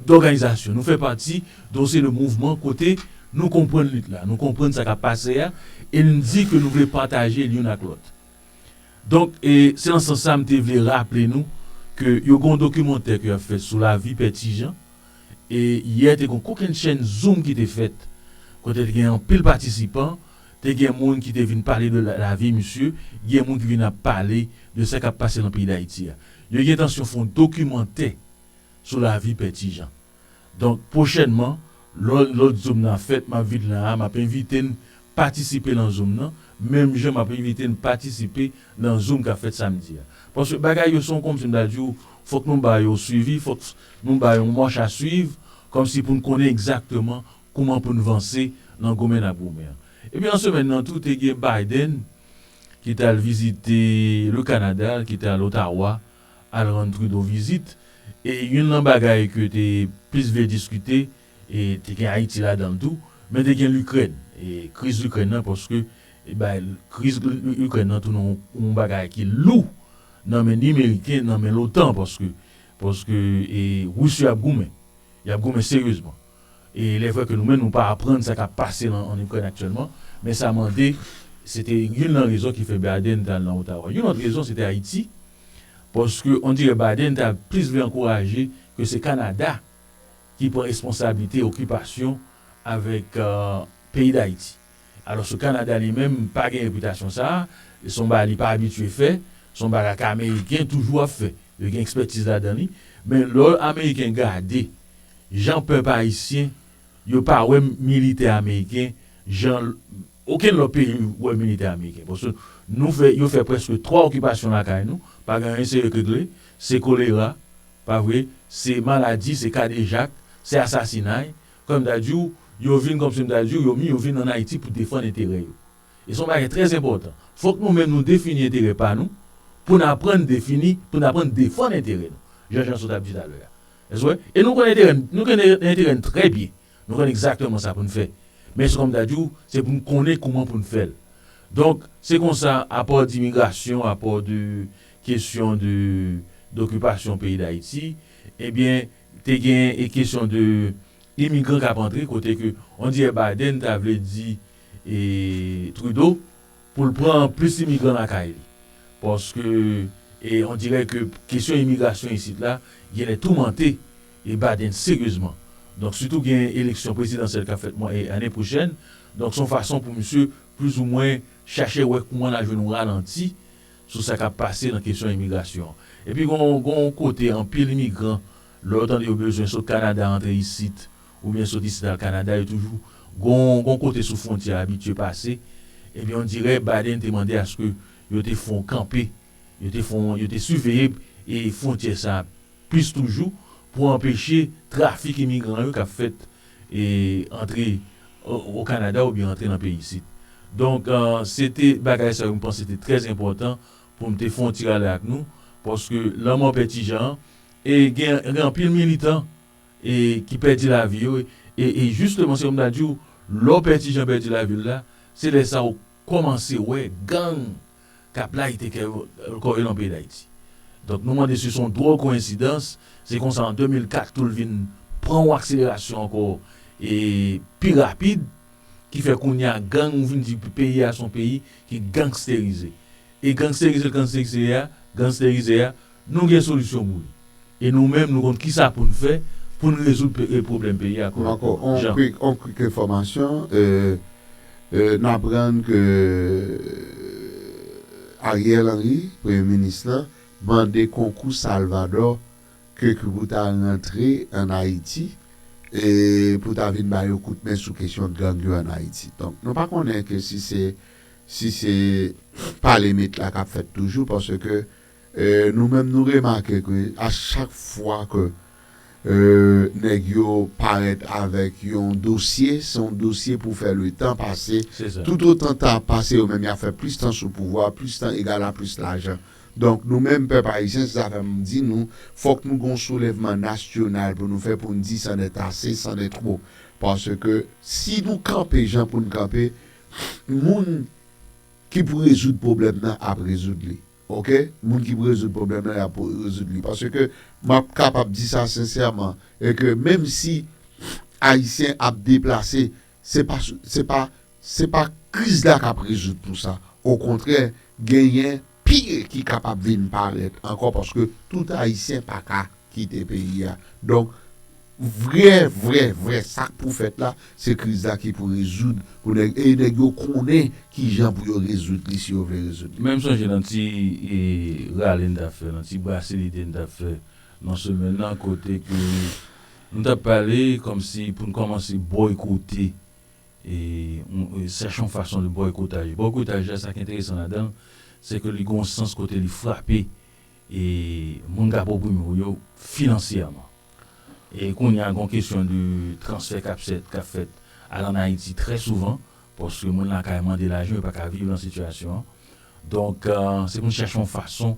dòganizasyon, nou fè pati de yon seri de mouvman kote nou konprann lit la, nou konprann sa k ap pase a e n di ke nou vle pataje l youn ak lòt. Donk, e se nan sans sa m te vle raple nou ke yo gen yon dokimantè ke y ap fè sou lavi Pè Ti Jan e yè te gen yon kokennchenn zoom ki te fèt kote te gen anpil patisipan Te gen moun ki te vin pale de lavi misye, gen moun ki vin ap pale de sa k ap pase nan peyi Dayiti a. Yo gen entansyon fè yon dokimantè sou lavi Pè Ti Jan. Donk, pwochènman, lò lòt zoom nan ap fèt, m ap vin la a, m ap envite n patisipe nan zoom nan, menm jan m ap envite n patisipe nan zoom k ap fèt samdi a. Paske bagay yo se yon kòmsi m ta di w, fòk nou ba yo swivi, fòk nou ba yo yon mach a swiv, kòmsi pou n konnen egzakteman Kouman pou n vanse nan goumen n ap goumen an. Epi nan semèn nan tou te gen Biden ki t al vizite le Canada, ki t al Ottawa al rann Trudeau vizit. E youn nan bagay ke te plis vle diskite e te gen Ayiti ladan l tou, men te gen Likrèn e kriz Likrèn nan paske e bay kriz Likrèn nan tounen yon bagay ki lou nan men ni Meriken nan men lotan paske paske e Ris yo ap goumen. Y ap goumen seryezman. E lè vre ke nou menm nou pa aprann sa kap pase lan an Ikrèn aktyèlman, men sa mande, se te youn lan rezon ki fè Biden te al lan Ottawa. Youn lòt rezon se te Ayiti, paske on dirè Biden ta plis vle ankouraje ke se Kanada ki pran responsablite okipasyon avèk peyi Dayiti. Alòske Kanada li menm pa gen repitasyon sa a, se yon bagay li pa abitye fè, se yon bagay ke Ameriken toujou ap fè, yo gen ekspètiz ladan li. Men lò Ameriken gade jan pèp Ayisyen, yo pa wè militè Ameriken jan okenn lòt peyi wè militè Ameriken. Paske nou fè, yo fè prèske 3 okipasyon lakay nou, pa gen anyen serye k regle, se kolera, pa vre, se maladi, se kadejak, se asasinay, Kòm m ta di w, yo vin kòmsi m ta di w yo min yo vin ann Ayiti pou defann enterè yo. E se yon bagay trè enpòtan. Fòk nou menm nou defini enterè pa nou pou n aprann defini, pou n aprann defann enterè nou, jan Janso t ap di talè a. Èske w wè? E nou konnen enterè n, nou konnen enterè n trè byen. Nou konnen egzakteman sa pou n fè. Men se kòm m ta di w, se pou n konnen kouman pou n fè l. Donk, se konsa, apò dimigrasyon, apò de kesyon de dokipasyon peyi Dayiti, ebyen, Te gen e kesyon de imigran kap antre kote ke on dirè Biden ta vle di e Trudeau pou l pran plis imigran lakay li. Paske e on dirè ke kesyon imigrasyon isit la genlè toumante e Biden seryezman. Donk sitou gen eleksyon prezidansyèl kap fèt mwa e ane pwochèn. Donk son fason pou misye plis ou mwen chache wè kouman la jwenn on ralanti sou sa k ap pase nan kesyon imigrasyon an. Epi gen yon kote anpil imigran, lè yo tande yo bezwen sot Kanada antre isit, oubyen sot isit al Kanada, yo toujou gen yon kote sou fwontyè a abitye pase, epi ondirè Biden te mande aske yo te fon kanpe, yo te fon, yo te siveye fwontyè sa a plis toujou pou anpeche trafik imigran yo k ap fèt e antre o Kanada oubyen antre nan peyi isit. Donk se te bagay sa yo m panse te trè enpòtan pou m te fon ti rale ak nou paske lanmò pè Ti Jan an e gen anpil militan e ki pèdi lavi yo e jisteman se kòm ta di w lè w pè Ti Jan pèdi lavi l la se lè sa w kòmanse wè gang k ap layite kè yo, kò yo nan peyi Dayiti. Donk nou mande si se yon dwòl koyensidans, se konsa an 2004 tou l vin pran yon akselerasyon ankò e pi rapid ki fè kounye a gang vin di peyi a se yon peyi ki gangsterize. E gangsterize l gangsterize a, gangsterize a, Nou gen solisyon pou li. E nou menm nou konn kisa pou n fè pou n rezoud pwoblèm peyi a kòrèkteman. Jan. On kwik enfòmasyon, n aprann ke Ariel Henry, premye minis la, mande konkou Salvadò ke pou ta rantre an Ayiti pou ta vin ba yo kout men sou kesyon gang yo an Ayiti. Donk nou pa konnen ke si se si se pale mit la k ap fèt toujou paske Nou menm nou remake ke a chak fwa ke nèg yo parèt avèk yon dosye, se yon dosye pou fè le tan pase, tout otan tan ap pase yo menm yap fè plis tan sou pouvwa, plis tan egal a plis lajan. Donk nou menm pèp ayisyen se sa fè m di nou fòk nou gen yon soulèvman nasyonal pou nou fè pou n di san nèt ase, san nèt twò. Paske si nou kanpe jan pou n kanpe, moun ki pou rezoud pwoblèm nan ap rezoud li. Ok moun ki pou rezoud pwoblèm lan yap rezoud li paske map kapab di sa sensèman e ke menm si ayisyen ap deplase se pa se pa se pa kriz la kap rezoud tout sa okontrè genyen pi ki kapab vin parèt ankò paske tout ayisyen paka kite peyi a donk vrè vrè vrè sak pou fèt la se kriz la ki pou rezoud pou nèg e nèg yo konnen kijan pou yo rezoud li si yo vle rezoud li. Menm sonje nan ti rale n tap fè nan ti brase lide n tap fè nan semèn nan kote ke nou tap pale kòmsi pou n kòmanse bòykote sèche yon fason de bòykotaj bòykotaj la sak enteresan ladan l se ke li gon sans kote li frape e moun kap oprime w yo finansyèman e kounye a gon kesyon de transfè kap sèt kap fèt al an Ayiti trè souvan paske moun lakay mande lajan yo paka viv nan sitiyasyon an donk se pou n chache yon fason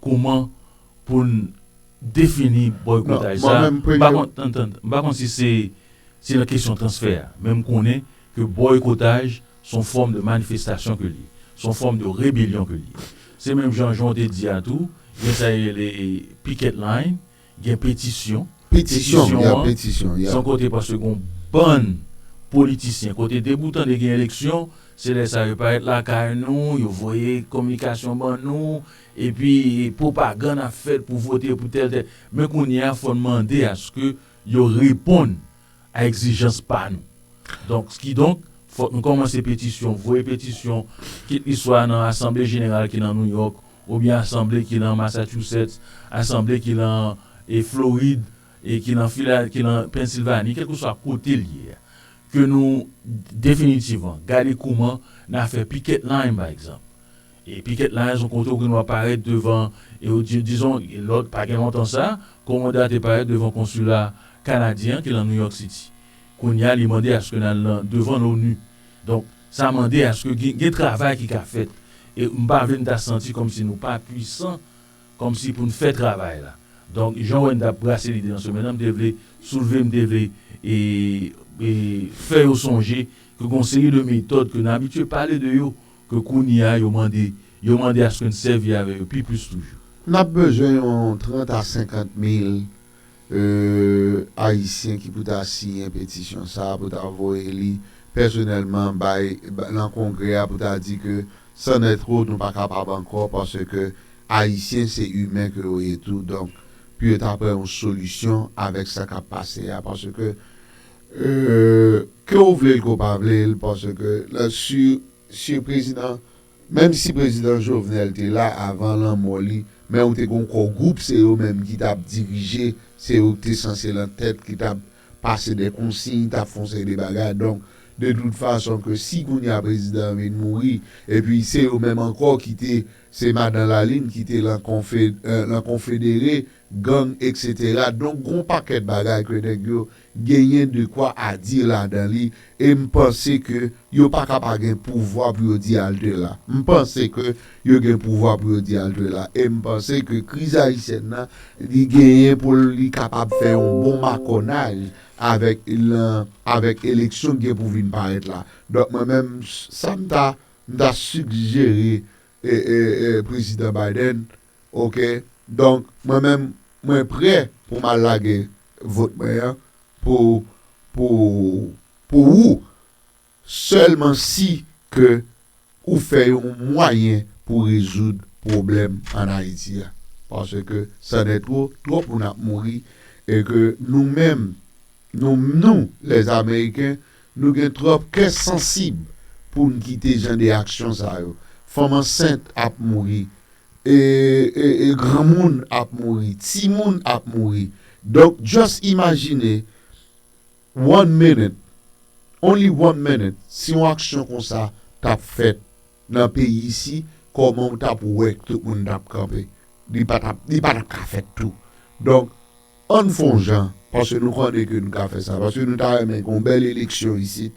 kouman pou n defini bòykotaj sa m pa konn tann tann m pa konn si se se nan kesyon transfè a men m konnen ke bòykotaj Son fòm de manifestasyon ke l ye. Son fòm de rebelyon ke l ye. Se menm jan jan w te di a tou, gen sa yo rele picket line, gen petisyon. Petisyon, ya petisyon, ya. Son kote paske gen yon bann politisyen, kote depi ou tande gen eleksyon, se lè sa yo parèt lakay nou, yo voye kominikasyon ban nou, epi pwopagann ap fèt pou vote pou tèl tèl. Men kounye a fò n mande aske yo reponn a egzijans pa nou. Donk, kidonk, fòk nou kòmanse petisyon, voye petisyon, kit li swa nan asanble jeneral ki nan Nouyòk, oubyen asanble ki nan Masachusetts, asanble ki nan Florid, ki nan Fila, ki nan Pennsilvani, kèlkeswa kote l ye a, ke nou definitivman gade kouman n a fè piket line, pa egzanp. E piket la a son kote ou gendwa parèt devan e ou di, dizon, lòt pa gen lontan sa, Commanda a te parèt devan konsila Kanadyen an ki lan New York City. Kounye a li mande aske n al nan devan l'ONU. Donk, sa mande aske gen gen travay ki ka fèt. E m pa vle n ta santi kòmsi nou pa pwisan kòmsi pou n fè travay la. Donk, jan w wè n t ap brase lide nan semèn nan, m te vle soulve, m te vle e e fè yo sonje ke gon seri de metòd ke n abitye pale de yo Ke kounye a, yo mande, yo mande aske n sèvi avè yo pi plis toujou. N ap bezwen yon trant a senkant mil Ayisyen ki pou ta siyen petisyon sa a, pou ta voye li pèsonèlman bay, lan Kongrè a pou ta di ke san nè twò nou pa kapab ankò paske Ayisyen se imen ke yo ye tou, donk pou yo ta pran yon solisyon avèk sa k ap pase a paske Euh ke ou vle l ke ou pa vle l paske la su su prezidan menm si prezidan Jovenel te la avan lanmò li men ou te gon kò gwoup se yo menm ki tap dirije se yo ki te sanse lan tèt ki tap pase dè konsiy tap fon seri de bagay donk de tout fason ke si kounye a prezidan an vin mouri epi se yo menm ankò ki te se madan Lalin ki te lan konfe lan konfedere gang eksetera donk gon pakèt bagay ke nèg yo genyen de quoi à dire ladan li e m panse ke yo pa ka pa gen pouvwa pou yo di halte la. M panse ke yo gen pouvwa pou yo di halte la e m panse ke kriz ayisyèn nan li genyen pou l li kapab fè yon bon makònaj avèk lan avèk eleksyon k gen pou vin parèt la. Donk mwen menm sa m ta m ta sigjere e e e prezidan Biden ok donk mwen menm mwen prè pou m al lage Vot mwen an pou pou pou ou sèlman si ke ou fè yon mwayen pou rezoud pwoblèm an Ayiti a paske sanètwo twòp moun ap mouri e ke nou menm nou nou les ameriken nou gen twòp kè sansib poun kite jan de aksyon sa yo fanm ansent ap mouri E granmoun ap mouri, timoun ap mouri. Donk just imajine one minute, only one minute, si yon aksyon konsa t ap fèt nan peyi isi, kòman ou t ap wè tout moun t ap kanpe. Li pa t ap, li pa t ap ka fèt tou. Donk, ann fon jan, paske nou konnen ke nou ka fè sa, paske nou ta renmen gen yon bèl eleksyon isit,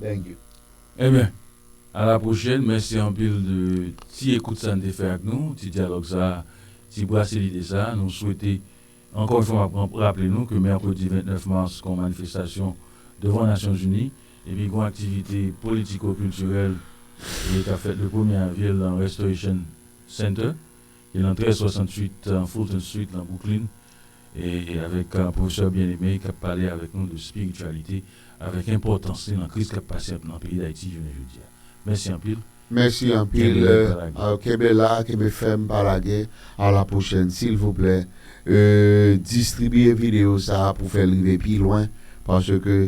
Thank you. Ebyen, a la pwochèn. Mèsi anpil de ti ekout sa n te fè ak nou, ti dyalòg sa a, ti brase lide sa a. Nou swete, ankò yon fwa m ap raple nou ke mèkredi 29 mas gon manifestasyon devan Nasyonzini epi gon aktivite politiko-kiltirèl ki ap fèt le premye avril nan Restoration Center ki nan 1368 Fulton Street nan Bwouklin. e avèk Pwofesè Bien-Aimé kap pale avèk nou de spirityalite avèk enpòtans li nan kriz kap pase nan peyi Dayiti jounen jodi a. Mèsi anpil. Mèsi anpil, kenbe la, kenbe fèm pa lage, a la pwochèn silvouplè distribiye videyo sa pou fèl rive pi lwen paske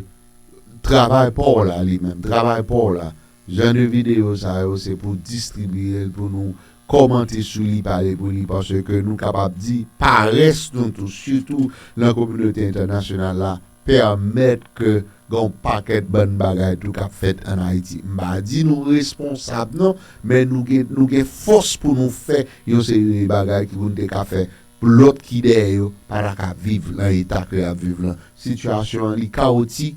travay paw la li menm, travay paw la. Jan de videyo sa yo se pou distribiyel pou nou kòmante sou li pale pou li paske nou kapab di parès nou tou sitou lan kominote entènasyonal la pèmèt ke gen yon pakèt bann bagay tou kap fèt an Ayiti m pa di nou responsab non men nou gen nou gen fòs pou nou fè yon seri de bagay ki pou nou te ka fè pou lòt ki dèyè yo pa ta ka viv lan eta ke yap viv lan sitiyasyon an li kawotik